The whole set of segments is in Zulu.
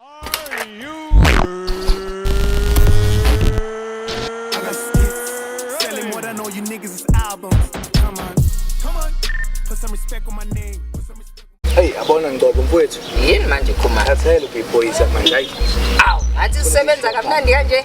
Hey, abona ngcobo mfowethu. Yini manje khuma? Athayela ubhiphoyisa manje. Awu, ngathi usebenza kamnandi kanje.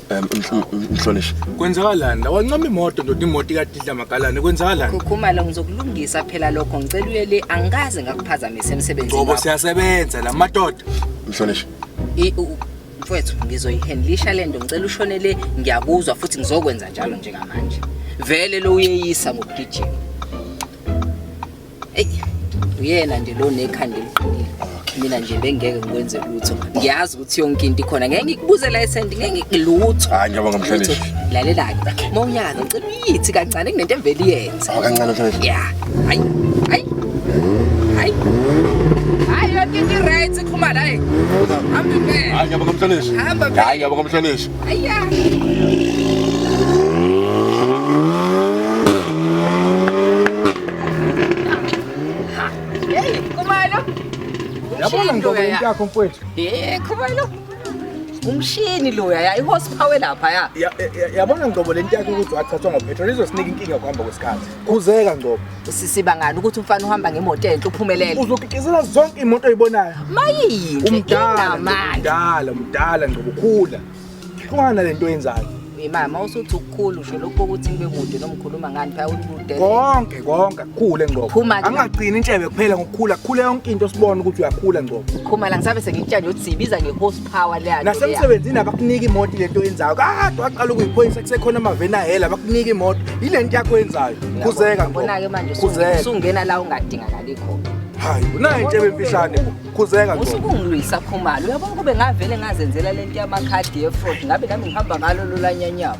Em, mhl- mhl- Mhlonishwa. Kwenzakalani la wancoma imoto ndoda imoto ikadidla magalane kwenzakalani? Khukhumalo ngizokulungisa phela lokho ngicela uye le angikaze ngakuphazamisa emsebenzini Ngoba wakho. siyasebenza la madoda. Mhlonishwa. I- u- mfwethu ngizoyihandlisha le nto ngicela ushone le ngiyakuzwa futhi ngizokwenza njalo njengamanje vele lo uyeyisa ngokugijima eyi uyena nje lo nekhanda eliqinile mina nje bengeke ngikwenze lutho ngiyazi ukuthi yonke into ikhona ngeke ngikubuze license ngeke ngikulutho hayi ngiyoba ngomhlonishwa lalela-ke uma unyaka ngicela uyithi kancane kunento emvele iyenze oh, kancane mhlonishwa ya hayi hayi hayi hayi yonke into i-right ikhumala hayi hamba impela hayi ngiyoba ngomhlonishwa hamba impela hayi ngiyoba ngomhlonishwa Yabona ndobo yakho mfowethu. Eh khona lo. Umshini lo yaya ihorsepower lapha ya. Yabona ndobo lento yakho ukuthi wathathwa ngopetrol izosinika inkinga kuhamba kwesikhathi. Kuzeka ndobo. Sisiba ngani ukuthi umfana uhamba ngemoto enhle uphumelele. Uzokikizela zonke imoto oyibonayo. Mayini. Umdala mdala mdala ngcobo khula. Ungana lento oyenzayo. Imama usuthi ukukhulu usho lokho ukuthi ngibe kude nomkhuluma ngani phaya ulude. Konke konke kukhule ngcobo. Angagcini intshebe kuphela ngokukhula khule yonke into sibone ukuthi uyakhula ngcobo. Khumala ngisabe sengikutshanje uthi sibiza ngehost power leya nasemsebenzini abakuniki imoto lento yenzayo kade waqala ukuyiphoyisa kusekhona amaveni ahela abakuniki imoto yile nto yakho yenzayo kuzeka ngibona-ke manje usungena la ungadingakali khona hayi unayo into ebemfishane khuzeka usukungilwisa khumalo uyabona kube ngavele ngazenzela le nto yamakhadi yefrod ngabe nami ngihamba ngalo lolanyanyawo